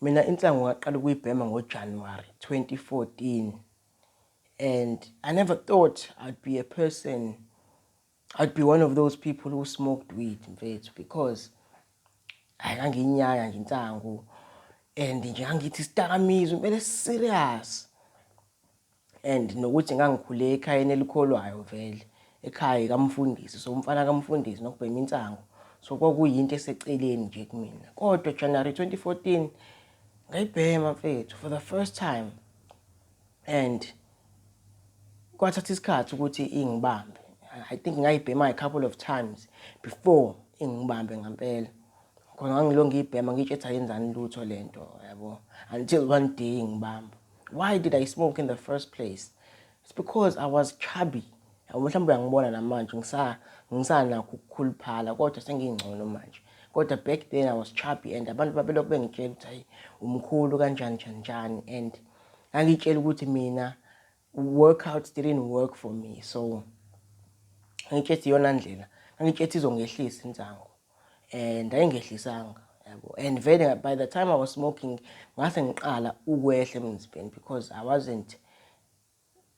Mina insangu ngaqala ukuyibhema ngoJanuary 2014 and I never thought I'd be a person I'd be one of those people who smoked weed mfethu because hayi ngangiyinyaya nje insangu and nje ngangithi isidakamizwa impela serious and nokuthi ngangikhule ekhayeni elikholwayo vele ekhaya kamfundisi so umfana kamfundisi nokubhema insangu so kwakuyinto eseceleni nje kumina kodwa January 2014 ngayibhema mfethu for the first time and kwathatha isikhathi ukuthi ingibambe i think ngayibhema a couple of times before ingibambe ngempela khona ngangilonge ibhema ngitshetha yenzani lutho lento yabo until one day ngibamba Why did I smoke in the first place? It's because I was chubby. Mhlawumbe uyangibona namanje ngisanakho ukukhuluphala kodwa sengingcono manje. Kodwa back then I was chubby and abantu babelokhu bengitshela ukuthi hayi umkhulu kanjani njani njani and angitshela ukuthi mina workouts didn't work for me so ngitshela iyona ndlela ngitshela izongehlisa insangu eh ndayingehlisanga yabo and vele by the time i was smoking ngase ngiqala ukwehla emzimbeni because i wasn't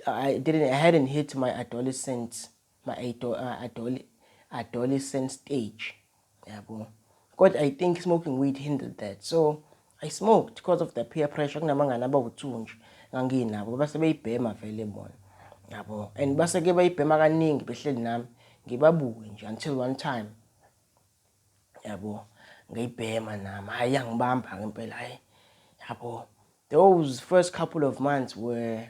i didn't i hadn't hit my adolescent my uh, adole, adolescent stage yabo kodwa i think smoking weed hindered that so I smoked because of the peer pressure kunamangane abawu-two nje nganginabo base beyibhema vele bona yabo and baseke bayibhema kaningi behleli nami ngibabuke nje until one time yabo ngayibhema nami hhayi yangibamba-ke impela hhayi yabo those first couple of months were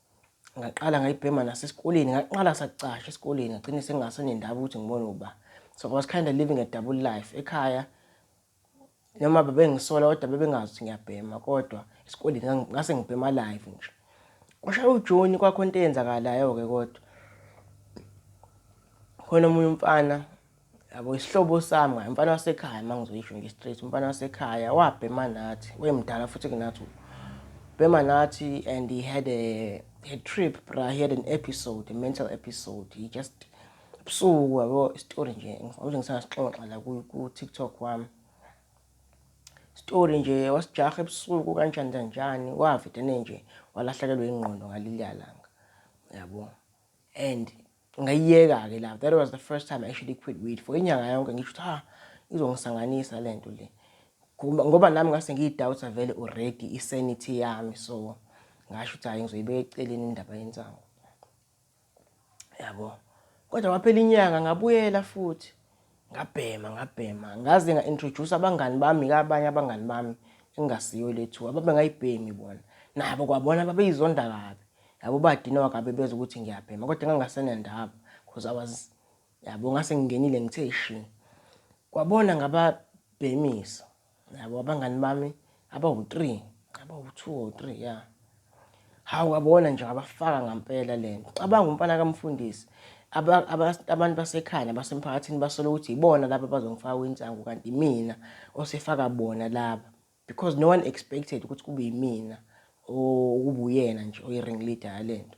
ngaqala ngayibhema nasesikoleni ngaqala sakucasha esikoleni ngagcine sengasenendaba ukuthi ngibone uba so i was kind of living a double life ekhaya noma bebengisola kodwa bebengazi ukuthi ngiyabhema kodwa esikoleni ngase ngibhema live nje kwashaya ujoni kwakho into eyenzakalayo-ke kodwa khona omunye umfana yabo isihlobo sami ngaye umfana wasekhaya uma ngizoyisho nje straight umfana wasekhaya wabhema nathi wemdala futhi kunathi bhema nathi and he had a, a trip bra he had an episode a mental episode he just ebusuku yabo istory nje ngifuna ngisasixoxa la ku-tiktok wami story nje wasijaha ebusuku kanjani kanjani wavedene nje walahlekelwa ingqondo ngalilya langa yabo and Ngayiyeka ke love. That was the first time I actually quit weed for inyanga yonke ngisho ha izongisanganisa lento le. Ngoba nami ngase ngiyidoubta vele already isanity yami so ngasho ukuthi hayi ngizoyibeka eceleni indaba yensangu. Yabo. Kodwa waphela inyanga ngabuyela futhi. ngabhema ngabhema ngaze nga-introduce abangani bami kabanye abangani bami engingasiyo lethu ababe ngayibhemi bona nabo kwabona babeyizonda kabi yabo badinwa kabi bezwa ukuthi ngiyabhema kodwa ngangasenendaba because i was yabo ngase ngingenile ngithe shi kwabona ngababhemisa Yabo abangani bami abawu-three, abawu-two or three ya. Hawu abona nje ngabafaka ngampela le nto. Cabanga umfana kamfundisi. Aba- aba- Abantu basekhaya nabasemphakathini basola ukuthi yibona laba abazongifaka kwinsangu kanti imina osefaka bona laba. Because no one expected ukuthi kube yimina o- okubuyena nje oyi-ring leader yale nto.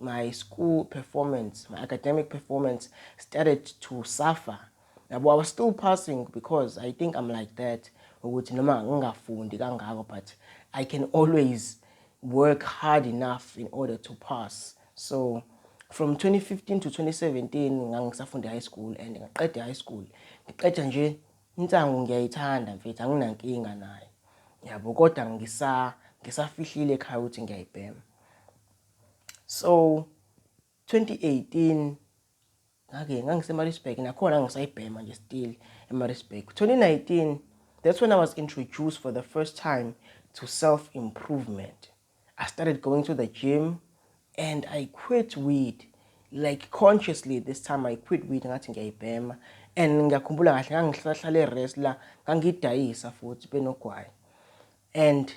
my school performance, my academic performance started to suffer. Yabo, I was still passing because I think I'm like that ukuthi noma ngingafundi kangako but I can always work hard enough in order to pass. So from 2015 to 2017 ngangisafunde high school and ngaqeda high school. Ngiqeda nje insangu ngiyayithanda mfethu anginankinga nayo. Yabo, kodwa ngisa ngisafihlile ekhaya ukuthi ngiyayibhema. So 2018 ngake ngangiseMaritzburg nakhona ngisayibhema nje still eMaritzburg. 2019 that's when I was introduced for the first time to self improvement. I started going to the gym and I quit weed like consciously this time I quit weed ngathi ngiyayibhema and ngiyakhumbula kahle ngangihlahlale rest la ngangidayisa futhi benogwayi and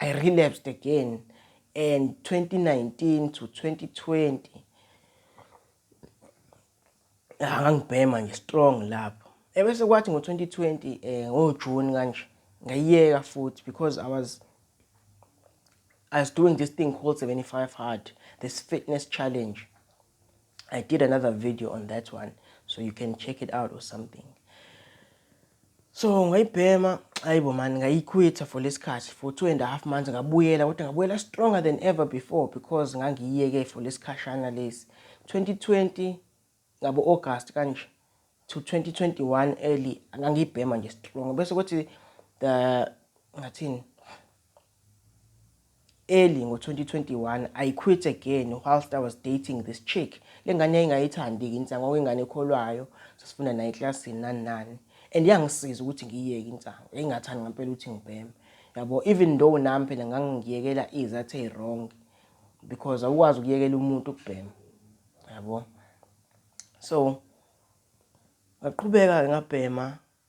I relapsed again and 2019 to 2020 angangibhema nje strong lapho ebese kwathi ngo-2020 eh ngoJune kanje ngayiyeka futhi because I was I was doing this thing called 75 hard this fitness challenge I did another video on that one so you can check it out or something so ngayibhema ayibo mani ngayikhwitha for lesikhathi for two and a half months ngabuyela kodwa ngabuyela stronger than ever before because ngangiyiyeke for lesikhashana lesi 2020 ngabo August kanje to 2021 early ngangiyibhema nje strong bese kuthi the ngathini Early ngo 2021 I quit again whilst I was dating this chick. Lengane yayingayithandi insangu okuyingane ekholwayo sasifunda naye eclassini nani nani and yangisiza ukuthi ngiyiyeke insangu. Yayingathandi ngampela ukuthi ngibheme. Yabo even though nami phela ngangiyekela izathe wrong because awukwazi ukuyekela umuntu ukubhema. Yabo. So ngaqhubeka ngabhema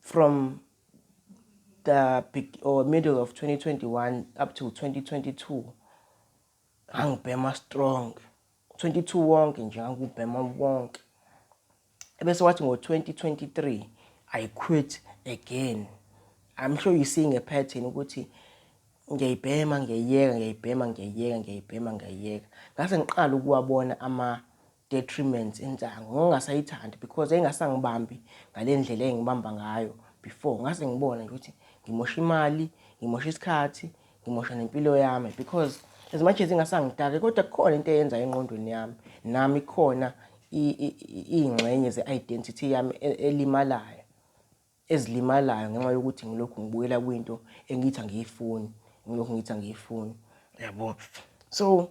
From the big or middle of 2021 up to 2022 ngangibhema strong 22 wonke nje ngangubhema wonke ebese wathi ngo-2023 i quit again i'm sure you seeing a pattern ukuthi ngiyayibhema ngiyayeka ngiyayibhema ngiyayeka ngiyayibhema ngiyayeka ngase ngiqala ukuwabona ama detriments insangu ngingasayithandi because engasangibambi ngalendlela engibamba ngayo before ngase ngibona nje ukuthi ngimosha imali ngimosha isikhathi ngimosha nempilo yami because as much as ingasangitake kodwa kukhona into eyenza enqondweni yami nami khona iy'ngxenye ze-identity yami e, elimalayo ezilimalayo ngenxa yokuthi ngilokhu ngibuyela kwinto engithi angiyifuni ngilokhu ngithi angiyifuni yabo so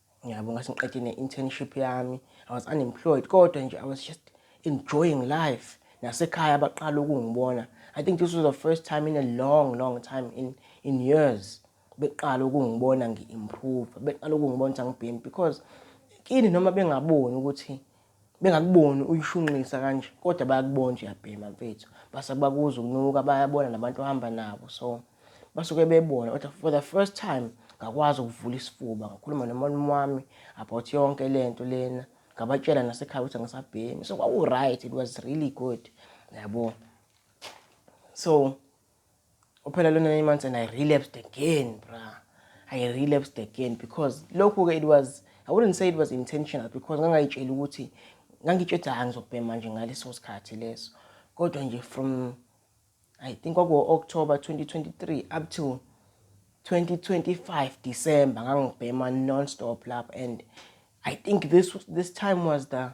Ngiyabo ngathi ngiqede ne-internship yami. I was unemployed kodwa nje I was just enjoying life. Nasekhaya baqala ukungibona. I think this was the first time in a long long time in in years beqala ukungibona ngi-improve. Beqala ukungibona ukuthi angibhemi because kini noma bengaboni ukuthi bengakuboni uyishunqisa kanje kodwa bayakubona nje uyabhema mfethu base bakuza ukunuka bayabona nabantu ohamba nabo so basuke bebona kodwa for the first time ngakwazi ukuvula isifuba ngakhuluma nomalume wami about yonke le nto lena ngabatshela nasekhaya ukuthi angisabhemi so kwaku-right it was really good yabo so Uphela lona nine months and I relapsed again, bruh. I relapsed again because lokhu ke it was I wouldn't say it was intentional because ngangayitshela ukuthi ngangitshela ukuthi angizobhema manje ngaleso sikhathi leso. Kodwa nje from I think kwaku October 2023 up to 2025 December ngangibhema non-stop lapho and I think this this time was the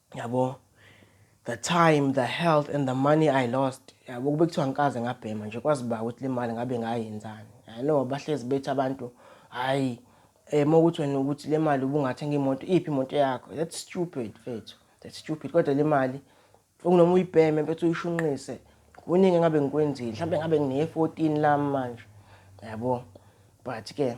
yabo the time the health and the money i lost yabo kube kuthiwa ngikaze ngabhema nje kwazi ba ukuthi le mali ngabe ngayenzani i know bahlezi bethi abantu hayi eh mokuthi wena ukuthi le mali ubungathenga imoto iphi imoto yakho that's stupid mfethu that's stupid kodwa le mali ukunoma uyibheme mfethu uyishunqise kuningi ngabe ngikwenzile mhlawumbe ngabe ngine-14 lami manje yabo but ke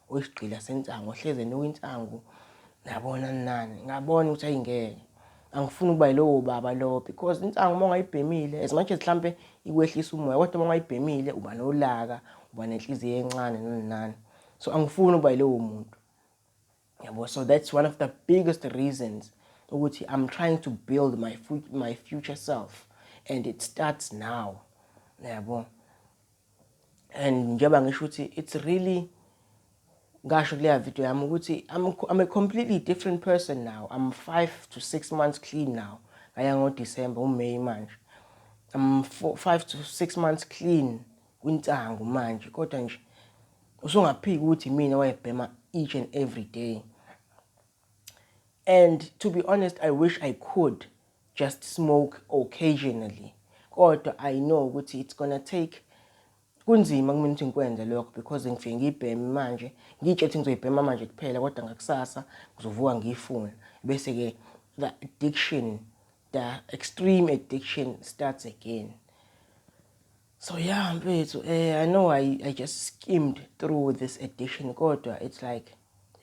Oyisigqila sensangu ohlezi enuka insangu nabona nani ngabona ukuthi ayingeke angifuni ukuba yilowo baba lowo because insangu uma ungayibhemile as much as mhlampe ikwehlisa umoya kodwa uma ungayibhemile uba nolaka uba nenhliziyo encane noninani so angifuni ukuba yilowo muntu yabo so that's one of the biggest reasons ukuthi i'm trying to build my, my future self and it starts now yabo and njengoba ngisho ukuthi it's really ngasho kuleya video yami ukuthi I'm, I'm a completely different person now I'm five to six months clean now ngaya ngoDecember uMay manje I'm four, five to six months clean kwintango manje kodwa nje usungaphiki ukuthi mina wayebhema each and every day And to be honest I wish I could just smoke occasionally kodwa I know ukuthi it's gonna take kunzima kumina ukuthi ngikwenze lokho because ngifike ngiyibheme manje ngitshe ukuthi ngizoyibhema manje kuphela kodwa ngakusasa ngizovuka ngiyifuna bese-ke the addiction the extreme addiction starts again So yeah mfethu eh I know I I just skimmed through this edition kodwa it's like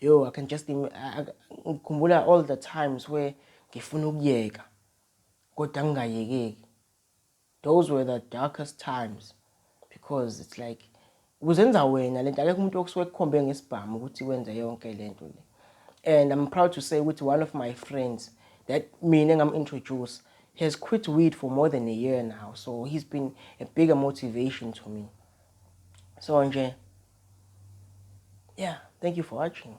yo I can just ngikhumbula all the times where ngifuna ukuyeka kodwa ngingayekeki those were the darkest times because it's like Ukuzenza wena lento akekho umuntu okusuke kukhombe ngesibhamu ukuthi wenze yonke lento le. And I'm proud to say ukuthi one of my friends that mina ngam introduce has quit weed for more than a year now. So he's been a bigger motivation to me. So nje yeah, thank you for watching.